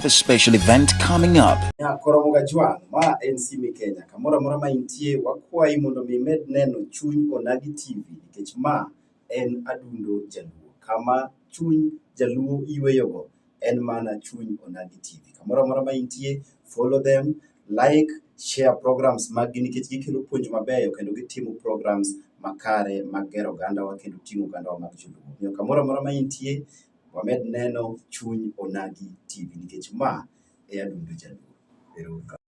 a special event coming up. Nyakoromoga Juan, ma en Sime Kenya. Kamoro amora ma intie, wakwayi mondo mi imed neno Chuny Onagi TV nikech ma en adundo jaluo. Kama chuny jaluo yueyogo en mana chuny onagi TV. Kamoro amora ma intie, follow them, like, share programs maggi nikech gikelo puonj mabeyo kendo gitimo programs makare mag gero ogandawa kendo ting'o ogandawa mag joluo. Omiyo kamoro amora ma intie, wamed neno chuny onagi TV nikech ma e adundo jaluo. Ero uru kamano.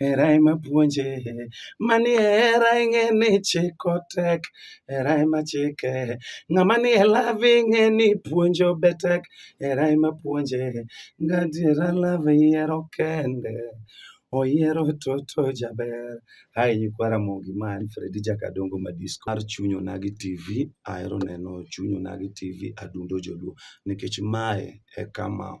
Hera ema puonje, mani hera ing'e ni chiko tek, hera ema chike. Ng'ama ni e love ing'e ni puonjo be tek, hera ema puonje. Gadiera love yiero kende, oyiero toto jaber. Hai nyikwa Ramogi ma en Fredi Jakadongo Madisco mar Chuny Onagi TV. Ahero neno Chuny Onagi TV adundo joluo nikech mae e kama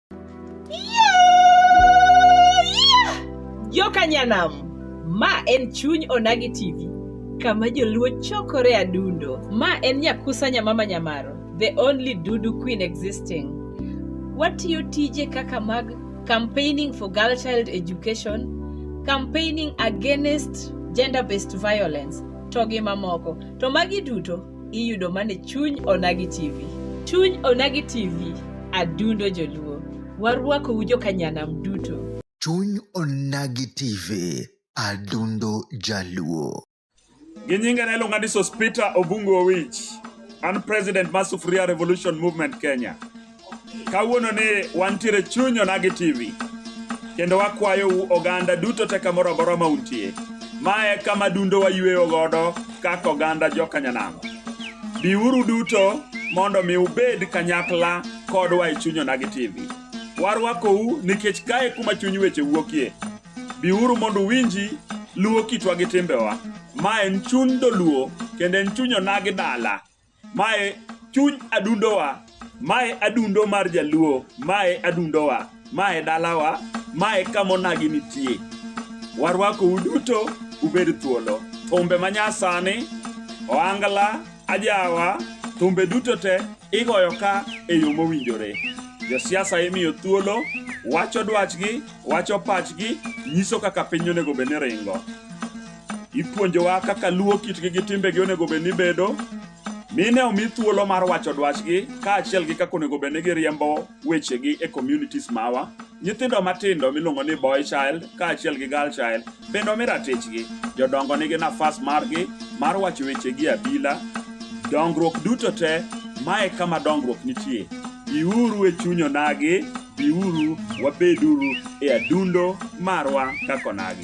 Yokanyanam, ma en chuny Onagi TV, kama joluo chokore adundo. Ma en Nyakusa Nyamama Nyamaro, the only Dudu Queen existing. Watiyo tije kaka mag campaigning for girl child education, campaigning against gender-based violence, to gi mamoko. To magi duto iyudo mane chuny onagi tv chuny onagi tv adundo joluo warwakou jokanyanam duto chuny onagi tv adundo jaluo gi nyinge ne iluonga ni sospita obungu owich an president mar sufuria revolution movement kenya Kawuono ni wantiere chuny onagi TV kendo wakwayou oganda duto te kamoro amora ma untie. Ma e kama dundo wayueyo godo kaka oganda jokanyanamo. Biuru duto mondo mi ubed kanyakla kodwa e chuny onagi TV. Warwakou nikech kae kuma chuny weche wuokie. Biuru mondo uwinji luwo kitwa gi timbewa. Ma en chuny dholuo kendo en chuny onagi dala. Mae chuny adundowa, mae adundo mar jaluo, mae adundowa, mae dalawa, mae kamonagi nitie. Warwako uduto ubed thuolo. Thumbe manyasani, oangla, ajawa, thumbe duto te igoyo ka e yo mowinjore. Josiasa imiyo thuolo, wacho dwachgi, wacho pachgi, nyiso kaka piny onego bed ni ringo. Ipuonjowa kaka luwo kitgi gi timbegi onego bed ni bedo, mine omi thuolo mar wacho dwachgi kaachiel gi kaka onego bed ni giriembo wechegi e communities mawa. Nyithindo matindo miluongo ni boy child kaachiel gi girl child bende omi ratichgi. Jodongo nigi nafas margi mar wacho wechegi e abila. Dongruok duto te, mae kama dongruok nitie. Biuru e chuny onagi, biuru wabeduru e adundo marwa kaka onagi.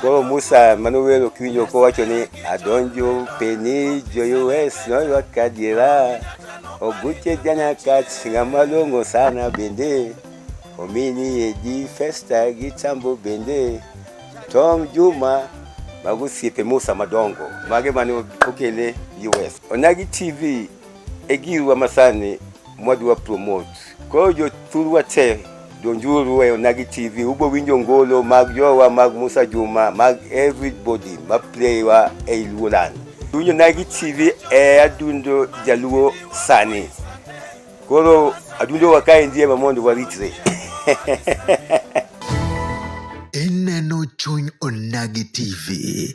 Koro Musa mane owero kiwinjo kowacho ni adonjo peni joyues noywa kadiera oguche janakat ng'ama long'o sana bende omini edi festa gi tambo bende Tom Juma mago osiepe Musa madongo mage mane okele US. Onagi TV e girwa masani mwadwa promote. Koro jothurwa te donjuru e Onagi TV, ubo winjo ngolo mag jowa mag Musa Juma mag everybody ma playwa e Luolan. Winjo Onagi TV e adundo jaluo sani. Koro adundo wakae ndiye ma mondo waritre. Ineno chuny Onagi TV.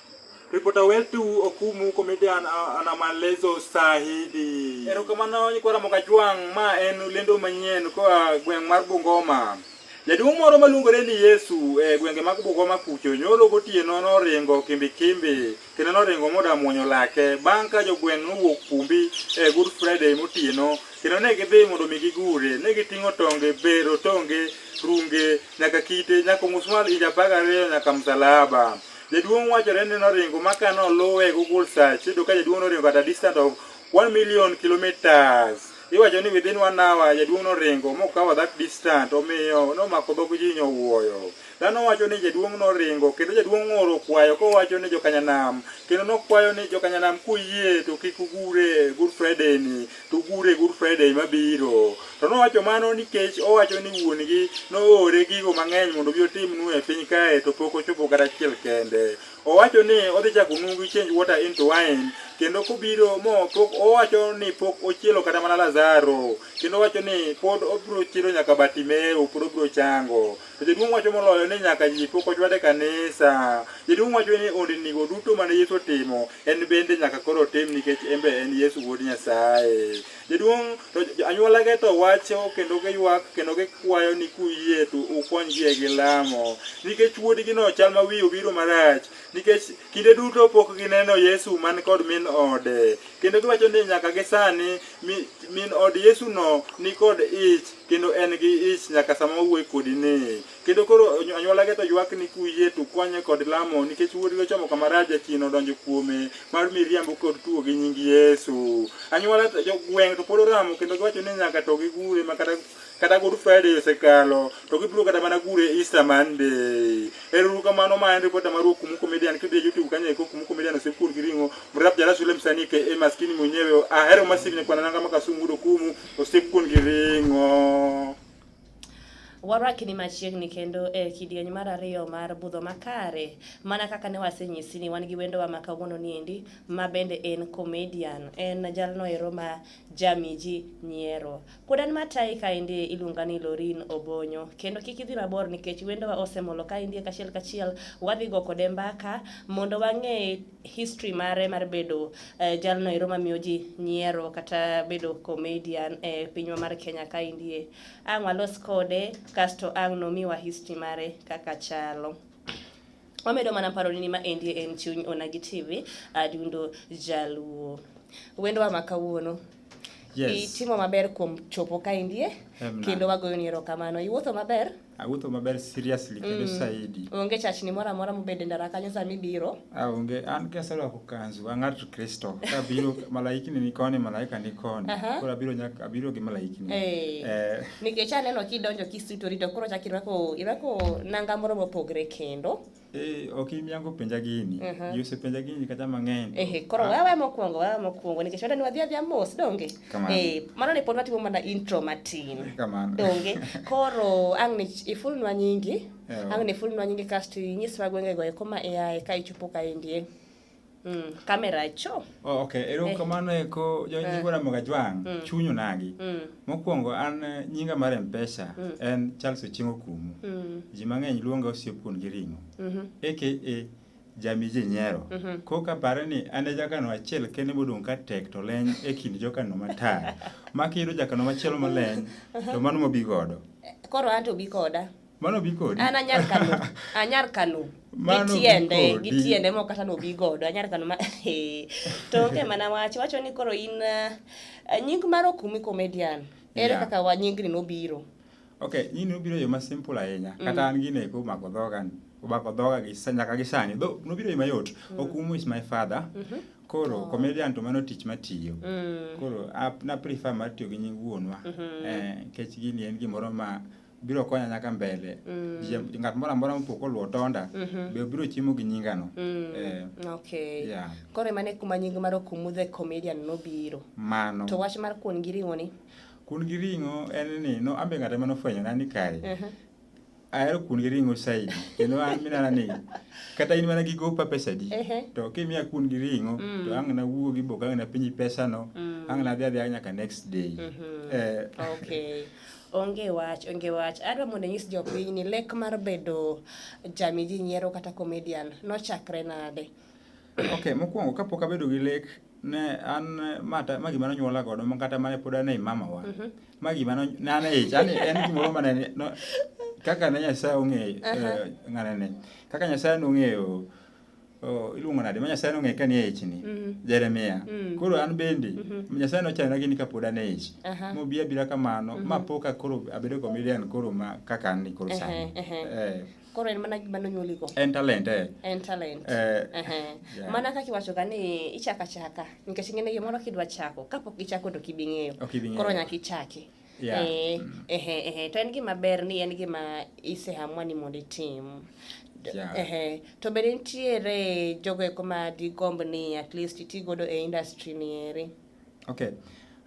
Ripota wetu Okumu huko Midian ana maelezo sahihi. Erokamano nyikwa Ramogi Ajwang', ma en lendo manyien koa gweng' mar Bungoma. Jaduong' moro maluongore ni Yesu e gwenge mag Bungoma kucho nyoro gotieno noringo kimbi kimbi kendo noringo moda muonyo lake bang' ka jogweng' nowuok kumbi e Good Friday motieno kendo ne gidhi mondo mi gigure ne giting'o tonge bero tonge runge nyaka kite nyaka musmal inja apar gariyo nyaka msalaba Jaduong' wachore ni noringo ma ka noluwe e Google search iyudo ka jaduong' noringo at a distance of 1 million kilometers. Iwacho ni within one hour jaduong' noringo mokawo that distance omiyo nomako dhog ji nyowuoyo. Dhano wacho ni jaduong' noringo kendo jaduong' oro kwayo kowacho ni jokanyanam kendo nokwayo ni jokanyanam kuyie to kik ugure Good Friday ni to gure e Good Friday mabiro. To nowacho mano nikech owacho ni wuon-gi noore gigo mang'eny mondo obi otimnu e piny kae to pok ochopo kata achiel kende. Owacho ni odhi chako nungu change water into wine kendo kobiro mo pok owacho ni pok ochielo kata mana Lazaro kendo owacho ni pod obiro chielo nyaka Bartimeo pod obiro chango. To jaduong' wacho moloyo ni nyaka ji pok ochwad e kanisa. Jaduong' wacho ni ondinigo duto mane Yesu otimo, en bende nyaka koro otim nikech en be en Yesu wuod Nyasaye. Jaduong' to anyuolage to wacho kendo giywak kendo gikwayo ni kuyie to ukonygi e gi lamo. Nikech wuodgino chal ma wiye obiro marach, nikech kinde duto pok gineno Yesu man kod min ode. Kendo giwacho ni nyaka gisani min od Yesuno ni kod ich kendo en gi ich nyaka sama owuoye kodi ni kendo koro anywolage to ywak ni kuye to kwanye kod lamo nikech wuodgi ochomo kama raja chien odonjo kuome mar miriambo kod tuo gi nying yesu anywola gweng' to pod oramo kendo giwacho ni nyaka to gigure ma kata kata good friday osekalo to gibiro kata mana gure easter monday eruru kamano ma en ripota mar okumu comedian kidhi e youtube kanyo eko okumu comedian osekur gi ring'o mrap jalasulem sani ke e maskini mwenyewe ahero masivne kwanananga makasungudo kumu Osepun gi ring'o. Warakni machiegni kendo e kidieny mar ariyo mar budho makare. Mana kaka ne wasenyisi ni wan gi wendowa ma kawuono niendi ma bende en comedian. En jalno ero ma jamiji nyiero. Pod an matayi kaendi iluonga ni Lorin Obonyo. Kendo kik idhi mabor nikech wendowa osemolo kaendi kachiel kachiel wadhi go kode mbaka mondo wang'e history mare mar bedo uh, jalno ero mamiyo ji nyiero kata bedo comedian e eh, pinywa mar Kenya ka indie. Ang' walos kode kasto ang' nomiwa history mare kaka chalo. Wamedo mana paro ni ma endie en chuny Onagi TV adundo jaluo. Wendwa ma kawuono yes. itimo maber kuom chopo ka indie kendo wagoyo ni erokamano. Iwuotho maber? Awuotho maber seriously kendo mm. saidi. Onge chachni moro amora mobede ndara kanyo sama ibiro. Ah, onge an kaserwako kanzu an ng'at Kristo. Kabiro malaikni ni koni malaika ni koni. Koro abiro nyaka abiro gi malaikni. Eh. eh. Nikech aneno kidonjo kisutori to koro chak irwako irwako nanga moro mopogre kendo. Eh, ok in yango penja gini. Aha. Ji osepenja gini kata mang'eny. Ehe, koro Ah, wewe mokwongo, wewe mokwongo nikech wenda ni wadhi adhiya mos donge? Kamano. Eh, mano ne pod watimo mana intro matin. Kamano. Donge? Koro ang' ni ifulnwa nyingi, Ewa. ang' ni ifulnwa nyingi kasto inyiswa gwengego eko ma iaye ka ichopo kaendi. eh. Mm, kamera cho. Oh, okay. Ero eh. kamano eko jo eh. nyigora mga jwang mm. chunyu nagi. Mm. Mokwongo an eh, nyinga mar Mpesa mm. en Charles Ochingo Kumu. Mm. Ji mang'eny luonga osiepun gi ring'o. Mm -hmm. Eke e jami ji nyero. Mm -hmm. Koka pare ni an e jakano achiel kene modong' ka tek to leny e kind jokano matar. Makiyudo jakano machielo maleny to mano mobi godo. Koro an to bi koda. Mano bi kodi. An anyar kano. Anyar kano. Mano bi Gitiende, kodi. gitiende mok kata nobi godo. Anyar kano ma to onge mana wach. Wacho ni koro in uh, nying mar okumi comedian. Ere Yeah. kaka wa nyingni nobiro? Okay, nyini obiro e yo ma simple ahinya. Kata an gine ko mako dhoga ni. Obako dhoga gi sa- nyaka gi sani. Dho nobiro e yo mayot. Okumu is my father. Koro comedian to mano tich matiyo. Mm. Koro ap- na prefer mar tiyo gi nying wuonwa. Eh, kech gini en gimoro ma biro konya nyaka mbele mm. Jiem- ng'at moro amora mopoko luo tonda be obiro chiemo gi nyingano Eh, okay yeah. koro emane kuma nying mar okumu the comedian nobiro mano to wach mar kuon gi ring'o ni kun gi ring'o en ni no ambe ng'at ema nofwenyona ni kae ahero kun gi ring'o saidi kendo an minana ni kata in mana gi gopa pesadi Ehe. to kimiya kun gi ring'o to ang' nawuogi bok ang' napenji pesano ang' nadhi adhiya nyaka next day Eh, okay Onge wach, onge wach. Adwa mondo anyis jopiny ni lek mar bedo jami ji nyiero kata comedian nochakre nade? Okay, mokwongo kapok abedo gi lek ne an ma ta- ma gima nonyuola godo ma kata mane pod ane i mamawa ma gima no- ne an e ich an en gimoro mane ni- no- kaka ne nyasaye ong'eyo eh, ng'ane ne kaka nyasaye nong'eyo Oh, iluongo nade ma nyasaye nong'e ka nie ichni mm -hmm. jeremia mm -hmm. koro an bende mm -hmm. nyasaye nochana gini ka pod an e ich uh -huh. mobi abira kamano mm -hmm. ma poka koro abedo comedian koro ma kaka an ni koro uh -huh. sani uh -huh. eh. koro en mana gima nonyuoligo en talent eh. en talent eh. uh -huh. yeah. mana kaka iwachoga ni ichaka chaka nikech ing'e ni gimoro kidwa chako kapok ichako to kibing'eyo okay, koro nyaka ichaki Yeah. Eh, mm. eh, eh, eh, to en gima ber ni en gima isehamwa ni mondo itim yeah. to bende nitiere jogo eko ma digomb ni at least iti godo e industry ni eri okay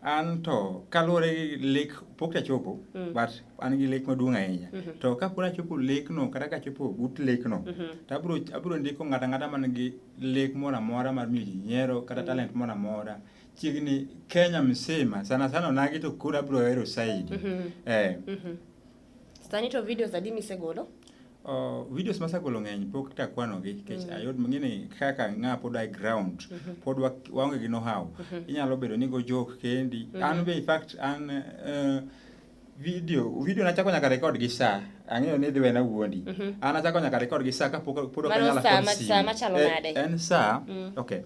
an to kaluwore gi lek pok tachopo mm. but an gi lek maduong' ahinya mm -hmm. to kapod achopo lekno kata kachopo but lekno mm -hmm. to abro, abro ndiko ng'ata ng'ata man gi lek moro amora mar miyo ji nyiero kata mm -hmm. talent moro amora Chiegni Kenya msima sana sana onagi to kura bro hero saidi. Mm -hmm. Eh. Mm -hmm. Sani to videos adi misegolo? Uh, videos masegolo ng'eny pok takwanogi nikech mm. ayud mang'ini kaka ng'a pod i ground mm -hmm. pod waonge gi know-how mm -hmm. inyalo bedo ni go joke kendi mm -hmm. an be in fact an uh, video video nachako nyaka record gi saa ang'eyo ni dhi wena wuondi mm -hmm. an achako nyaka record gi saa kapok pod ok anyala kod simu eh, en saa mm. okay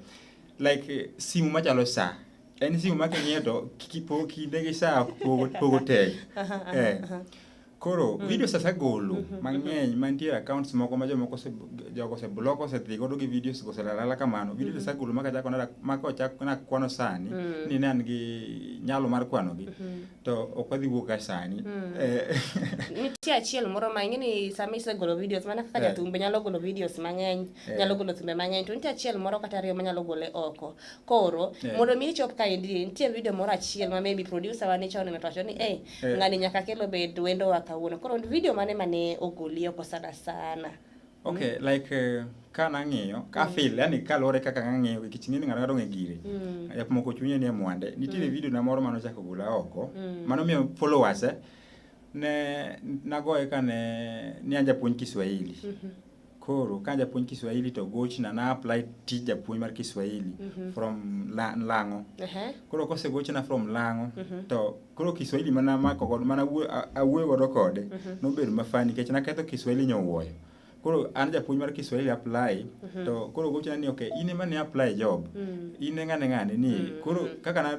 like eh, simu machalo saa en simu ma king'iyo to kipo kinde gi saa pogo pogo tek eh koro mm. videos asegolo mm-hmm, mm-hmm. mang'eny mantie accounts moko ma jomoko jogo oseblock osedhi godo gi videos go oselalala kamano videos mm-hmm. asegolo ma kachako ma kochak nakwano sani mm. ni ne an gi nyalo mar kwanogi to ok wadhi wuok ka sani mm. eh. nitie achiel moro ma ing'e ni sama isegolo videos mana kaka eh. jathumbe nyalo golo videos mang'eny Eh. nyalo golo thumbe mang'eny to nitie achiel moro kata ariyo manyalo gole oko koro eh. mondo mi ichop ka endi nitie video moro achiel ma maybe producer wa ne chon ometo ni eh, eh ngani nyaka kelo bed wendo wa kawuono koro video mane mane ogoli oko sana sana okay mm. like uh, ka nang'iyo ka mm. feel yani kaluwore kaka nang'iyo gi kiching'e ni ng'ato ng'ato ng'e gire mm. yak moko chunye ni mwande nitie mm. video na moro mano chako gula oko mm. mano miyo followers eh, ne nagoye kane ni anja puonj Kiswahili mm -hmm. Koro ka japuonj Kiswahili to gochna na apply tij japuonj mar Kiswahili mm -hmm. from la, Lang'o. Uh -huh. Koro kose gochna from Lang'o mm -hmm. to koro Kiswahili mana mako godo mana awuoyo godo kode mm -hmm. nobedo mafani nikech naketho Kiswahili nyowuoyo. Koro an japuonj mar Kiswahili apply mm -hmm. to koro gochna ni okay in ema ne apply job. Mm -hmm. In ng'ane ng'ane ni mm -hmm. koro kaka na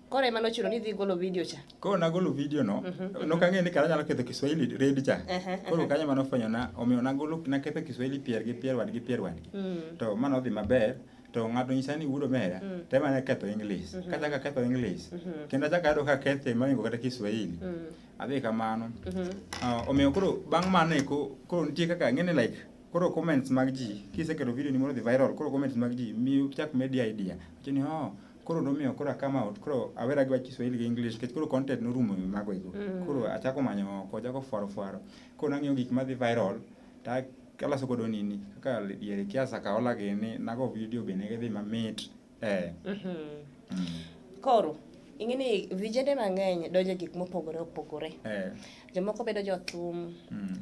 Koro ema nochuno ni idhi golo video cha. Koro nagolo video no, mhm. nok ang'eyo ni kara nyalo ketho Kiswahili red cha. Koro kanyo ema nofwenyona, omiyo nagolo naketho Kiswahili pier gi pier wadgi pier wadgi. Mm. To mano odhi maber to ng'ato nyisa ni wuod omera mm. to ema ne ketho English. Mhm. Kachako aketho English, mhm. kendo achako ayudo ka kethe moingo kata Kiswahili. Mm. Adhi kamano. Ah, omiyo koro bang' mano eko, koro nitie kaka ng'e ni like koro comments mag ji, kiseketo video ni mondo odhi viral, koro comments mag ji miyo chak medi idea. Wacho ni, oh, koro nomiyo koro akama out koro awera gi Kiswahili gi English nikech koro content norumo e mago ego mm. koro achako manyo oko achako fwaro fwaro koro nang'iyo gik madhi viral ta kalaso godo nini kaka diere kiasa kaola gini nago video be ne gidhi mamit eh mm-hmm. mm. koro ing'e ni vijende mang'eny donjo gik mopogore opogore eh. jomoko bedo jothum mm.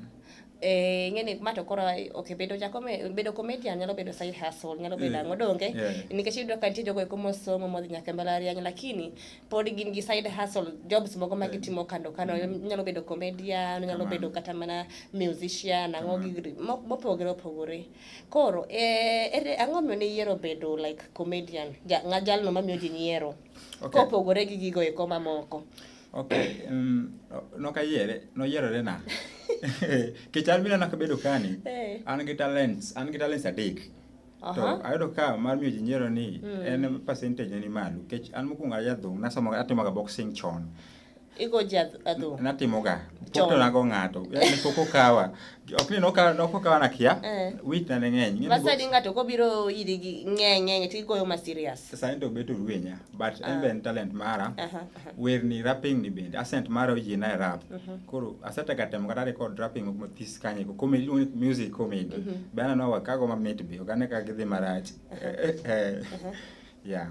eh, ing'eni ma to koro okay, bedo jakome bedo comedian nyalo bedo side hustle nyalo bedo ang'o donge yeah. nikech iyudo ka nitie jogo eko mosomo modhi nyaka e mbalariany lakini pod gin gi side hustle jobs mogo ma gitimo kando kando mm. nyalo bedo comedian nyalo bedo kata mana musician ang'o gi mopogore opogore koro eh, ere ang'o miyo ne iyiero bedo like comedian ja, jalno mamiyo ji nyiero okay. kopogore gi gigo eko mamoko Okay, um, nokayiere, noyierore na. Kichal mina nakabedo kani. Hey. Eh. An gi talents, an gi talents adek. Uh-huh. To ayudo ka mar miyo ji nyiero ni mm. en percentage ni malo. Kech an mokwongo aya dhong, nasomo atimoga boxing chon. Igo ji adhong. Natimoga. Pok to nago ng'ato. Yaani pok okawa. Ok ni nokawa nokawa na kia. Eh. Wit na ng'eny. Masa di ng'ato kobiro iri gi ng'eny ng'eny tigoyo ma serious. Sasa ento beto ruenya but uh. Ah. even talent mara. Uh -huh. wer ni rapping ni bende asent mara oyie na rap mhm. koro asetega temo kata record rapping moko mathis kanye ko comedy iluongo ni music comedy mhm. be aneno wa kago mamit be ok ane ka gidhi marach eh, yeah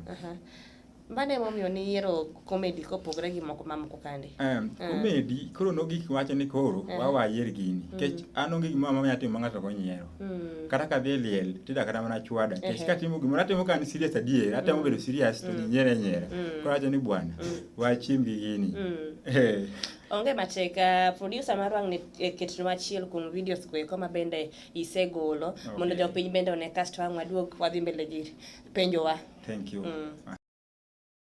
Mano emomiyo niyiero komedi kopogre gi moko mamoko kande. Um, uh. Komedi koro nogik wacho ni koro uh. wawayier gini. Nikech mm. an onge gimoro ma anyalo timo ma ng'ato ok onyiero. Mm. kata ka dhi liel tida kata mana chwada kech uh -huh. katimo gimoro atimo ka an serious adier atemo mm. bedo serious to mm. nyere nyere mm. koro acho ni bwana mm. wachim gi gini mm. Eh. onge matek uh, producer mar wang' e ketno achiel kuom videos go eko ma bende isegolo okay. mondo jopiny bende one kasto wang' waduog wadhi mbele gi penjowa thank you mm.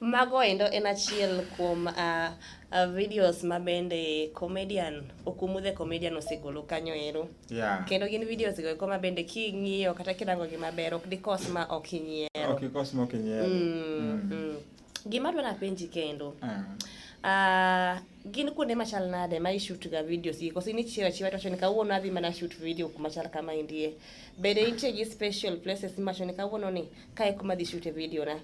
Mago endo en achiel kuom uh, uh, videos ma bende comedian Okumu the comedian osegolo kanyo ero yeah. kendo gin videos go eko ma bende king'iyo kata kirango gi maber ok dikos ma ok inyiero ok ikos ma ok inyiero mm, mm. mm. Gima adwa napenji kendo. Mm. Uh, gin kuonde machal nade ma ishoot ga videos gi koso inichiwo achiwa to ni kawuono adhi mana shoot video kuma chal kama indie bende nitie gi special places ma ni kawuono ni kae kuma dhi shoot video na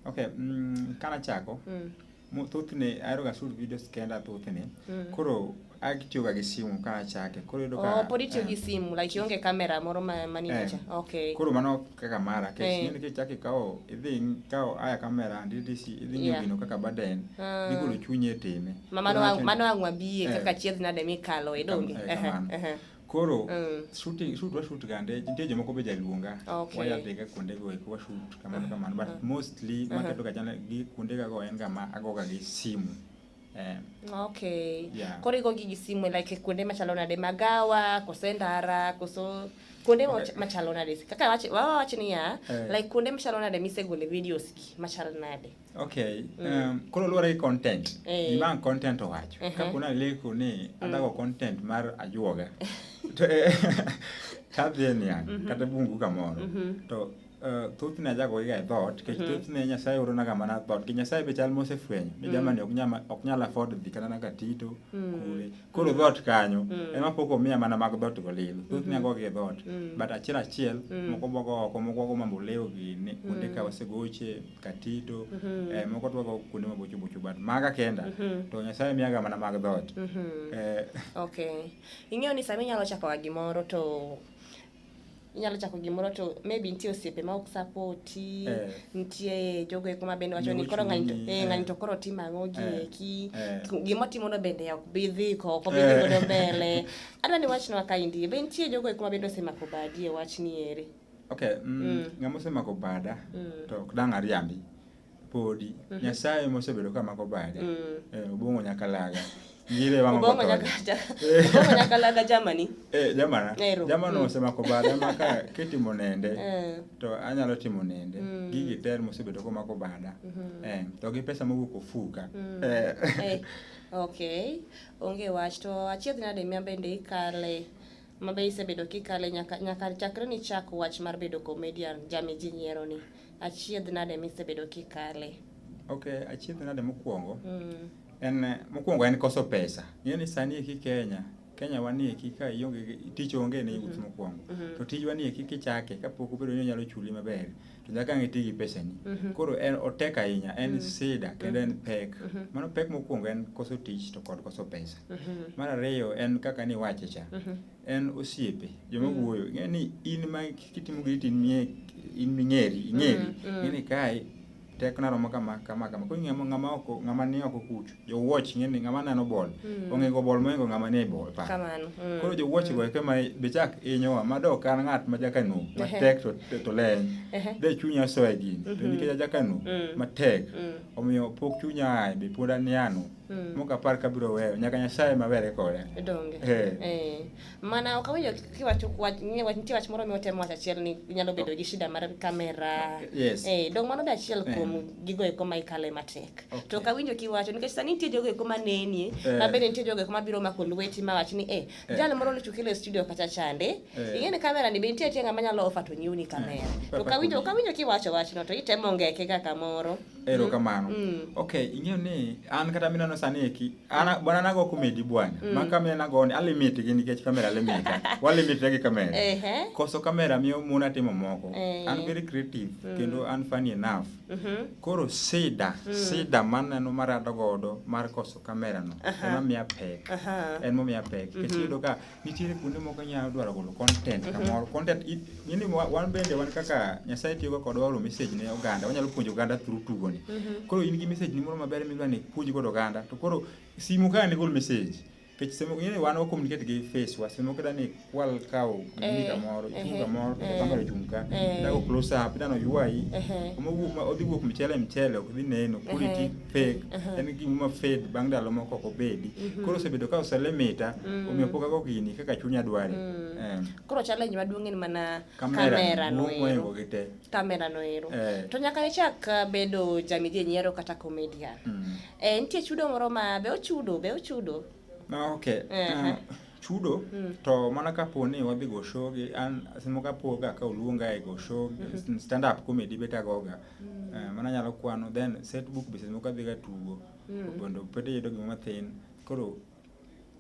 okay mm, kana chako mm. thothne ahero ga shoot videos kenda thothne mm. koro Akitiyoga gi simu ka achake. Koro iyudo ka Oh, pod itiyo gi simu like ionge kamera moro ma mani Eh. picha. Okay. Koro mano kaka mara Eh. kech ng'eni kichaki kawo idhi kawo aya kamera ndidisi idhi ng'iyo Yeah. gino kaka baden Ah. igolo chunyi e time Ma mano Koro ang- wacho- mano ang' wabiye Eh. kaka chiedh nade mikalo e donge. Kam- eh, Ehe, kamano. ehe. koro Mm. shooting shoot wa shoot gande nitie jomoko be jaluonga Okay. wayadhiga kuonde go eko wa shoot kamano kamano but mostly maketo ga chana gi kuonde ga go en ga ma agoga gi simu Eh. Okay. Yeah. Koro igo gi simu like kuonde machalo nade magawa, kose ndara, koso kuonde okay. machalo nade. Kaka wachi wawa wachi ni ya eh. like kuonde machalo nade misegole videos ki machalo nade. Okay. Mm. Um, koro luwore gi content. Eh. Gima content owacho. Uh -huh. Ka kuna leku ni mm. adago content mar ajuoga. to eh, tadhi en yang mm -hmm. kata bungu kamoro. Mm -hmm. To Eh, thothne ajago iga e dhot nikech mhm. thothne nyasaye oronaga mana dhot ki nyasaye be chal mosefwenyo ni mhm. jamani ok nyal afford dhi kata naga tito mhm. kule koro dhot kanyo ema pok omiya mana mag dhot go lil thothne agoga e dhot but achiel achiel moko bogo oko moko wago mambo lewo gini kuonde ka wasegoche katito eh, moko to wago kuonde mabocho bocho but maga kenda to nyasaye miyaga mana mag dhot eh. okay ing'eyo ni sama inyalo chakoga gimoro to inyalo chako gimoro to maybe nitie osiepe ma ok sapoti eh. nitie jogo eko ma bende wacho ni koro ng'ani to eh, ng'ani eh. to koro timo ang'o gi eh. eki eh. gima otimono bende ok bi dhi ko ok bi dhi godo mbele adwa ni wachnwa ka indie be nitie jogo eko ma bende osemako badi e wachni eri okay mm, mm. ng'ama osemako bada mm. to ok dang' ariambi podi mm -hmm. nyasaye mosebedo ka mako bade mm. eh, obong'o nyaka laga ngire wang'o obong'o nyaka obong'o nyaka laga jamani eh jamana eh, jamana mm. osemako bade maka kitimo nende eh. to anyalo timo nende mm. gigi ter mosebedo ko mako bada mm -hmm. eh to gi pesa mowuok ofuka mm. eh. eh okay onge wach to achiedh nade mia bende ikale mabe isebedo kikale nyaka nyaka chakre ni chak wach mar bedo comedian jami ji nyiero ni Achiedh nade misebedo kikale? Okay, achiedh nade mokwongo? Mm. En mokwongo en koso pesa. Ng'e ni sani eki Kenya Kenya wanie eki ka ionge tich onge ne yuth mhm. mokwongo mhm. to tijwa ni eki kichake kapok obedo ni onyalo chuli maber to nyaka ang' iti gi pesani mhm. koro en otek ahinya en sida kendo en pek mano pek mokwongo en koso tich to kod koso pesa mar ariyo en kaka niwache cha en osiepe joma mm. wuoyo ing'e ni in ma kitimo giri to in ming'eri ing'eri mm, mm. ing'eni kae tek naromo kama kama kama koro ng'ama ng'ama oko ng'ama ni oko kucho jowuoch ing'e ni ng'ama neno bol ong'ego bol moingo ng'ama ni e bol pa koro jowuoch go eke ma be chak inyowa ma dok an ng'at ma jakanu matek to to leny de chunya soya gini to mm-hmm. nikech ajakanu matek omiyo pok chunya ae be pod aniano Hmm. Muka par kabiro weyo nyaka Nyasaye mabere kode. Donge. Eh. eh. Mana ok awinjo kiwacho wach ni wach nitie wach moro mi otemo wacho achiel ni nyalo bedo gi shida mar kamera. Yes. Eh, dong mano da achiel eh. kuom gigo eko ma ikale matek. Okay. To ok awinjo kiwacho nikech sani nitie jogo eko ma nenie, eh. ma bende nitie jogo eko ma biro mako lweti ma wach ni eh, eh. jal moro ni chukile studio kacha chande. Eh. Ing'e ni kamera ni be nitie achiel ma nyalo offer to nyiuni kamera. Eh. To ok awinjo ok awinjo kiwacho wachno to itemo ngeke kaka moro. Ero kamano. Mm. mm. Okay, ing'eyo ni an kata mina no sani eki. Ana mm. bwana nago kumedi bwana. Mm. Ma kamera nago ni alimit gi nikech kamera limit. Walimit gi kamera. Eh eh. Koso kamera miyo muna timo moko. Eh. An very creative mm. kendo an funny enough. Mm -hmm. Koro sida, mm. sida mana no marado godo mar koso kamera no. Uh -huh. Ema miya pek. Uh -huh. En mo miya pek. Mm -hmm. Kech yudo ka nitiere kuonde moko inyalo dwaro golo content mhm. kamoro content ng'eni wan bende wan kaka nyasaye tiyoga kodwa oro message ne oganda wanyalo puonjo oganda through tugoni mhm. koro in gi message ni moro maber midwa ni puonj godo oganda to koro simu kaka nigol message kech semo ng'eni wan wakomunikate gi face wa semo kata ni kwal kawo gini eh, kamoro eh, ichung' kamoro to eh, kamera ichung' ka dago close up idano ywayi odhi wuok mchele mchele ok dhi neno koro iti fake uh-huh. en gima ma fade bang' ndalo moko ok obedi mm-hmm. koro osebedo ka oselemita mm. omiyo pok ago gini kaka chunya dware mm. eh. koro challenge maduong' en mana kamera noero kamera noero eh. to nyaka ichak uh, bedo jamidhi nyiero kata comedian mm. eh, nitie chudo moro ma be ochudo be ochudo ah, ok uh-huh. ah. chudo mm. to mana kapo ni wadhi go show gi an simo kapo ga ka oluonga e go show mm -hmm. stand up comedy beta goga mm. uh, mana nyalo kwano then set book be simo kadhi ga tugo mm. bondo pete yedo gima mathin koro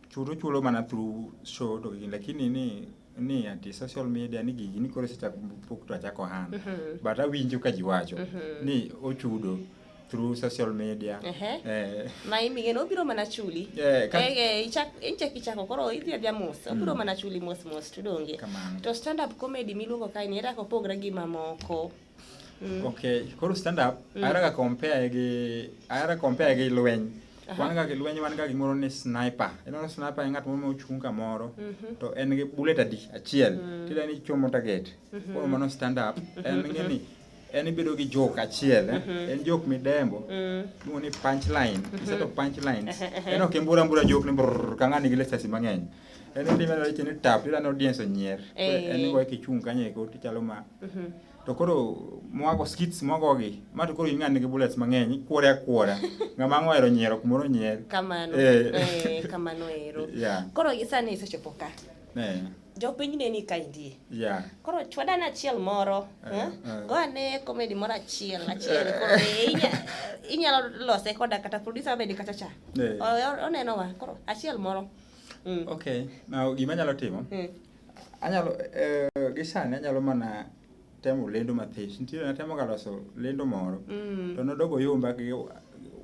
chudo chulo mana through show to gini lakini ni ni ati social media ni gigi ni koro sechak pok to achako hana mm -hmm. but awinjo ka ji wacho mm -hmm. ni ochudo through social media eh mai mi geno biro mana chuli eh eh ichak inchak ichako koro idhi adhi mos mm. obiro mana chuli mos mos to donge to stand up comedy miluongo kai ni era ko pogra gi mamoko mm. okay koro stand up mm. ara ga compare gi ara compare gi lweny wan ga lweny wan ga gimoro ni sniper eno sniper en ng'at moro mochung' kamoro mhm. to en gi bullet adi achiel mm. tida ni chomo target mhm. koro mano stand up en ng'e ni en ibedo gi jok achiel eh? mhm. en jok midembo mm. iluongo ni punchline mhm. instead of punchlines en ok imbura mbura jok ni brr ka ng'ani gi lisasi mang'eny en ndime na weche ni tap tira no audience onyier eh. en igoye kichung' kanyo eko tichalo ma mhm. to koro mwago skits mwago gi ma to koro ing'ani gi bullets mang'eny ikwore akwora ng'ama ang' ohero nyiero kumoro onyier kamano eh. Eh, kamano ero koro sani isechopo ka jopiny ne ni kaindie yeah. koro chwadane achiel moro uh, eh, uh. Eh? Eh? go ane komedi moro achiel achiel koro inyalo lose koda kata producer abedi kacha cha yeah. oneno wa koro achiel moro mm. okay now gima anyalo timo mm. anyalo uh, gisani anyalo mana temo lendo mathis nitiere natemo ga loso lendo moro mm. to nodogo yomba gi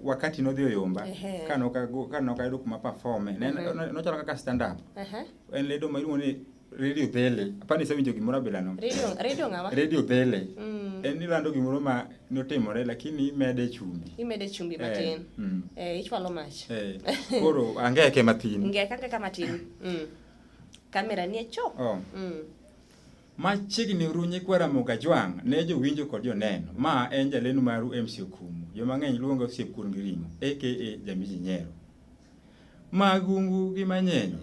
wakati nodhi oyomba ka nokayudo kuma performe mhm. nochalo kaka stand up en lendo ma iluongo ni radio dhele apani isewinjo gimoro abilano radio dhele mm. en ilando gimoro ma notimore lakini imede chumbi imede chumbi eh, matin eh, mm. eh, ichwalo mach eh, koro angeke matin ngeke angeka matin mm. kamera nie cho oh. mm. Machiegni uru nyikwa Ramogi Ajwang' ne jowinjo kod joneno. Ma en jalendo maru MC Okumu. Joma ng'eny luonga osiep kuon gi ring'o aka Jamiji Nyero. Magungu gi manyenye,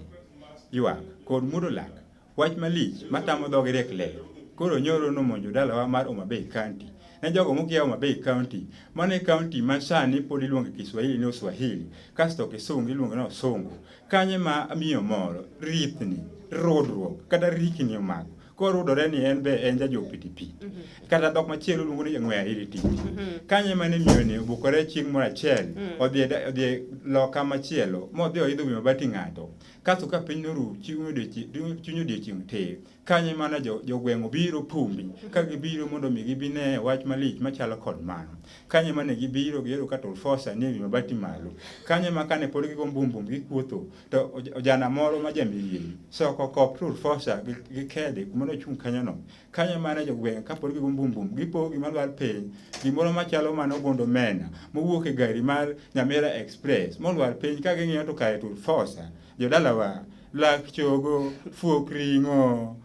ywak kod mudo lak, wach malich matamo dhogi riek ler. Koro nyoro nomonjo dalawa mar Homa Bay County. Ne jogo mokia Homa Bay County, mano e county ma sani pod iluongo Kiswahili ni Uswahili, kasto Kisungu iluongo ni Osungu, Kanye ma miyo moro rithni rodruok kata rikni omako korudore ni en be en jajo pitipi mhm. kata dhok machielo luongo ni ng'we ahiri tich mhm. kanye mane miyo ni obukore chieng' moro achiel mhm. odhi odhi loka machielo modhi oidho wi mabati ng'ato kasto ka piny noru chuny odiechieng' te Kanye mana jo, jogweng'o biro pumbi ka gibiro mondo mi gibine wach malich machalo kod mano. Kanye mane gibiro giyudo ka Tulfosa nie wi mabati malo. Kanye ma kane pod gigo mbumbum gikuotho to ojana moro ma jamirieri soko kop Tulfosa gi kede kuma nochung' kanyono. Kanye mane jogweng' ka pod gigo mbumbum gipo gima lwar piny gimoro machalo mano gondo mena mowuok e gari mar Nyamira Express molwar piny ka ging'iyo to kare Tulfosa Jodalawa, lak chogo, fuok ring'o.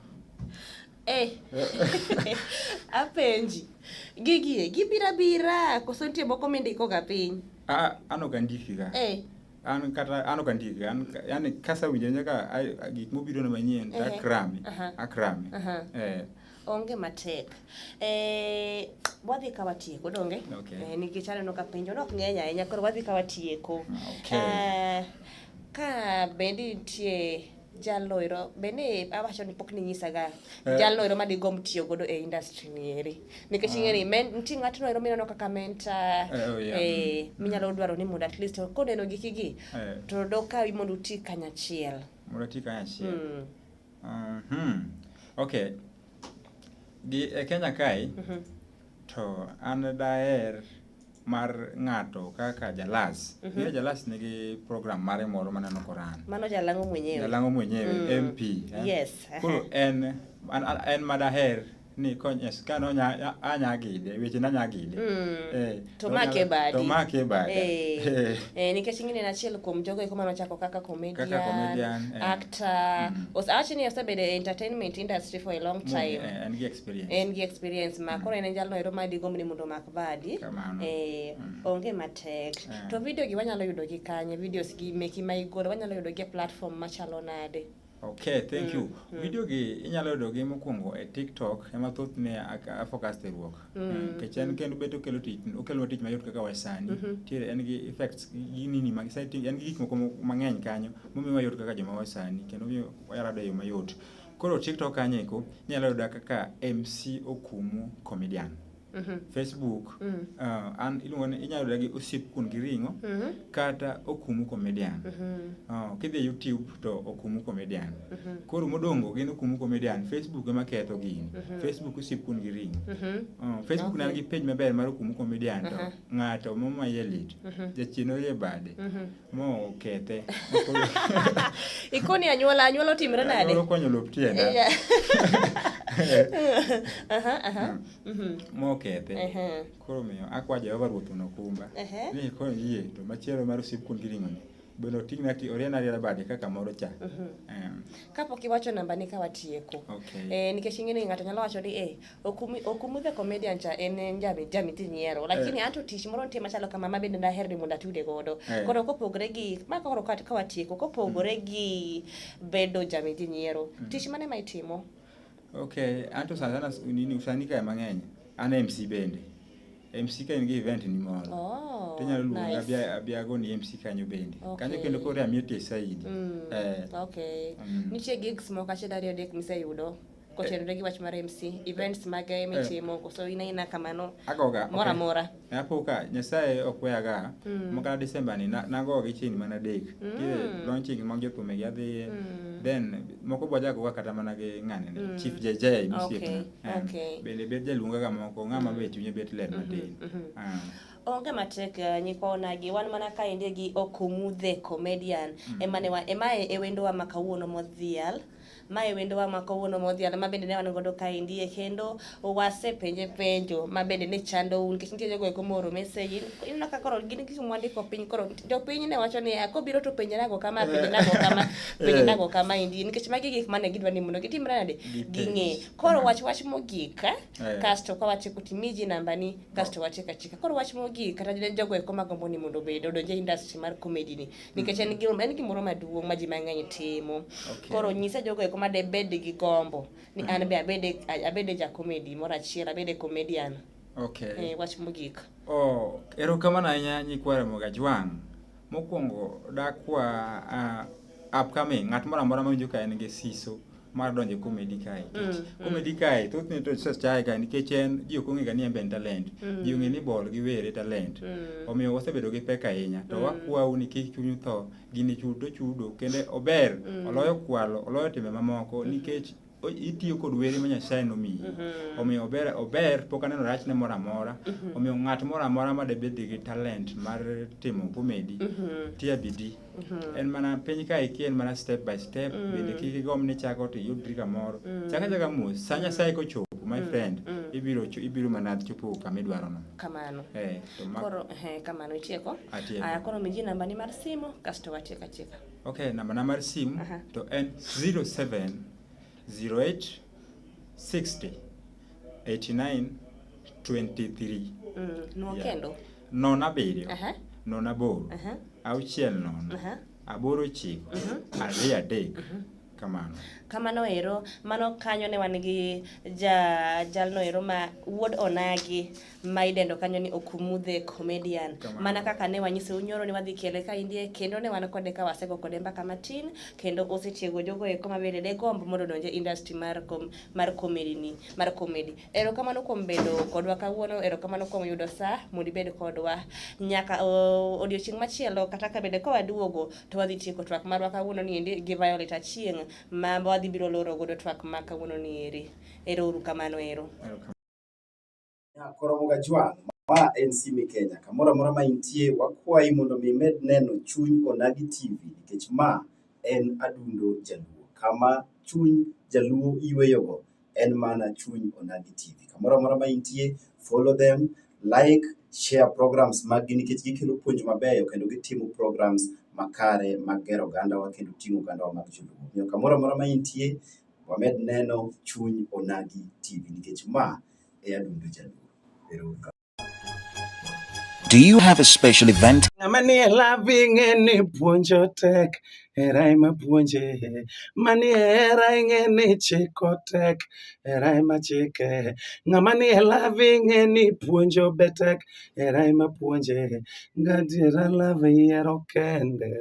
Eh. Apenji. Gigie, gibira bira, koso nitie moko mindiko ga piny? Ah, an ok andiki ga. Eh. An kata an ok andiki ga. Yaani kasa winjo nyaka gik mobiro na manyien, akrame. Akrame. Eh. Onge matek. Eh, wadhi ka watieko donge? Okay. Eh, nikech aneno ka penjo nok ng'eny ahinya koro wadhi ka watieko. Okay. Eh, ka bendi nitie jalno ero bende awacho ni pok ninyisaga eh. jalno ero madigomb tiyo godo e industry ni eri nikech ah. ing'eni nitie ng'atno ero mineno kaka mentor eh, oh, eh, minyalo dwaro ni mondo at least koneno gikigi to dokawi mondo uti kanyachiel mondo uti kanyachiel hmm. Mm -hmm. Okay. Gi e Kenya kae mm -hmm. to an daer mar ng'ato kaka jalas mm -hmm. jalas nigi program mare moro maneno koran mano jalang'o mwenyewe jalang'o mwenyewe mm. mp eh? yes koro en en madaher ni konyes ka no nya anya gide weche na nya gide mm. eh to make badi to make badi eh, eh. eh nikech ingine na chiel kuom jogo iko mano chako kaka comedian kaka comedian eh. actor mm. os actually you said the entertainment industry for a long mm, time eh, and the experience and the experience ma mm. kore ne jalo ero madi gomni mundo mak badi eh mm. onge matek eh. to video gi wanyalo yudo gi kanye videos gi meki ma igolo wanyalo yudo gi platform machalo nade Okay, thank you. Mm, mm. Video gi inyalo yudo gi mokwongo e TikTok ema thoth ne a focus e ruok. Mm, eh, Kech en mm. kendo bet okelo tich, okelo tich mayot kaka wasani. Mm -hmm. Tiere en gi effects gi nini mag setting, en gi gik moko mang'eny kanyo momiyo wayot kaka joma wasani kendo miyo wayarado yo mayot. Koro TikTok kanyo eko inyalo yuda kaka MC Okumu Comedian. Mhm. Facebook mm. uh, an iluongo ni inyalo yuda gi osip kun gi ring'o mm -hmm. kata okumu comedian mm -hmm. uh, kidhi YouTube to okumu comedian mm -hmm. koro modongo gin okumu comedian Facebook ema ketho gini mm -hmm. Facebook osip kun gi ring'o mm -hmm. uh, Facebook okay. nan gi page maber mar okumu comedian to uh -huh. ng'ato momaye lit mm -hmm. jachien oye bade mm -hmm mo okethe ikoni anyuola anyuola otimre nade anyuola okonyo lop tienda mm-hmm. mo okethe koro miyo akwa jehova ruoth mondo okumba ni koro yie to machielo mar osip kuom giring'oni bende oting'na ti oriena riera bade kaka moro cha mm-hmm. kapok iwacho namba ni ka watieko eh, nikech ing'e ni ng'ato nyalo wacho ni eh, Okumi, Okumu the comedian cha en en jami jami ti nyiero lakini anto tich moro nitie machalo kama ma bende daher ni mondo atude godo Eh. koro kopogore gi ma koro ka ka watieko kopogore gi bedo jami ti nyiero tich mane ma itimo Okay, anto sana sana s- nini usani kae mang'eny. An MC bende. MC ka in gi event ni moro. oh Tinyalo luonga nice. abia abia go ni MC kanyo bende. Okay. Kanyo kendo koro amie tie saidi. Mm, Eh. okay Mm. nitie gigs moko achiel ariyo adek miseyudo kotenore gi wach mar MC events mage eh. mitimo koso in aina kamano agoga moro amora eh, apo ka nyasaye ok weyaga mm. mokana December ni nagoga gi chini mana dek mm. ki launching mag jotume gi adhi mm. then moko bwa jago kata mana gi ng'ane ni mm. chief JJ misiep okay. na okay. bende bet jaluonga ga moko ng'ama mm. bet chunye bet ler mm-hmm. matin mm -hmm. uh. Ah onge matek eh, nyikoonagi wan mana kaendi gi okomudhe comedian mm. emane emae e wendowa ma kawuono modhial Mae wendowa ma kawuono modhial ma bende ne wan godo kaendi e kendo wasepenje penjo ma bende ne chando un nikech nitie jogo eko mooro message ineno ka koro gin gik mwandiko piny koro jopiny ne wacho ni ah, kobiro to penje nago kama penje nago kama penje eh. nago kama endi nikech magi gik mane gidwa ni mondo gitimre nade ging'e koro wach wach mogik eh. Eh. kasto ka wachiko timiji namba ni kasto wachika chika koro wach mogik kata jogo eko magombo ni mondo obed odonje industry mar comedy ni nikech en gim- en gimoro maduong' ma ji mang'eny timo Okay. koro nyisa jogo eko ma debed gi gombo ni an be abede abede jakomedi moro achiel abede comedian Okay. eh, wach mogik Oh, erokamano ahinya nyikwa Remo Gajwang'. Mokwongo dakwa uh, upcoming ng'at moro amora mawinjo ka en gi siso mar donjo komedi kae nikech mm, mm. komedi kae thothne to success chae kae nikech en ji ok ong'ega ni en be en talent mm. ji ong'e ni bol gi were talent omiyo wasebedo gi pek ahinya to wakwau ni kik chunyu tho gini chudo chudo kendo ober oloyo kwalo oloyo timbe mamoko mm-hmm. nikech itiyo kod were ma Nyasaye nomiyi mm-hmm. omiyo ober ober pok aneno rachne moro amora mm-hmm. omiyo ng'at moro amora ma debed gi talent mar timo komedi tia bidii Mm-hmm. en mana piny ka iki en mana step by step mm. bende kik igom ni chako to iyudri kamoro mm. chaka chaka mos sa nyasaye kochopo my mm. friend mm. ibiro ibiro mana chopo kama idwarono kamano eh, koro eh, kamano itieko aya koro miji nambani mar simo kasto watieko achieka ok nambana mar simu to en 07 08 60 89 23 Mm, nwo Yeah. kendo. nono abiriyo Aha. nono aboro Aha. auchiel nono Aha. aboro ochiko ariyo adek kamano Kamano ero, mano kanyo ne wan gi ja jalno ero ma wuod Onagi ma idendo kanyo ni Okumu the Comedian. Mana kaka ne wanyise unyoro ni wadhi kele ka indie kendo ne wan kode ka wasego kode mbaka matin kendo osetiego jogo eko ma bende de gombo mondo donje industry mar kom, mar comedy ni mar comedy. Erokamano kuom bedo kodwa kawuono, erokamano kuom yudo saa mondo ibed kodwa nyaka odiochieng' machielo kata ka bende ka waduogo to wadhi tieko twak marwa kawuono ni endi gi Violet Achieng' ma wadhi biro loro godo twak ma kawuono ni eri. Ero uru kamano ero. Nyakoro Muga Juan, ma en Sime Kenya. Kamoro amora ma intie, wakwayi mondo mi imed neno chuny Onagi TV nikech ma en adundo Jaluo. Kama chuny Jaluo yueyogo en mana chuny Onagi TV. Kamoro amora ma intie, follow them, like, share programs maggi nikech gikelo puonj mabeyo kendo gitimo programs makare magero ogandawa kendo ting'o ogandawa mag Joluo. Omiyo kamoro amora ma intie, Wamed neno chuny Onagi TV nikech ma e adundo jaluo. Ero uru kamano. Do you have a special event? Ng'ama ni e lab ing'e ni puonjo tek, hera ema puonje. Mani e hera ing'e ni chiko tek, hera ema chike. Ng'ama ni e lab ing'e ni puonjo be tek, hera ema puonje. Gadiera lab yiero kende.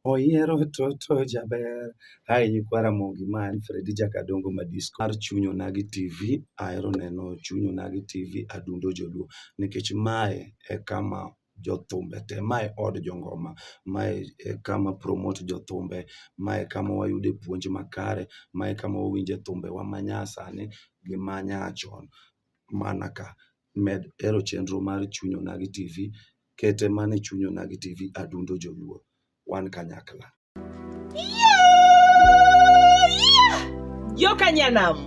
Oyiero toto jaber. Hi nyikwa Ramogi ma en Fredi Jakadongo ma disco mar Chuny Onagi TV. Ahero neno Chuny Onagi TV adundo joluo nikech mae e kama jothumbe te, mae od jongoma, mae e kama promote jothumbe, mae e kama wayude puonj makare, mae e kama wawinje thumbewa manyasani gi manyachon mana ka. med hero chenro mar chuny onagi tv kete mane chuny onagi tv adundo joluo wan kanyakla Joka Nyanam.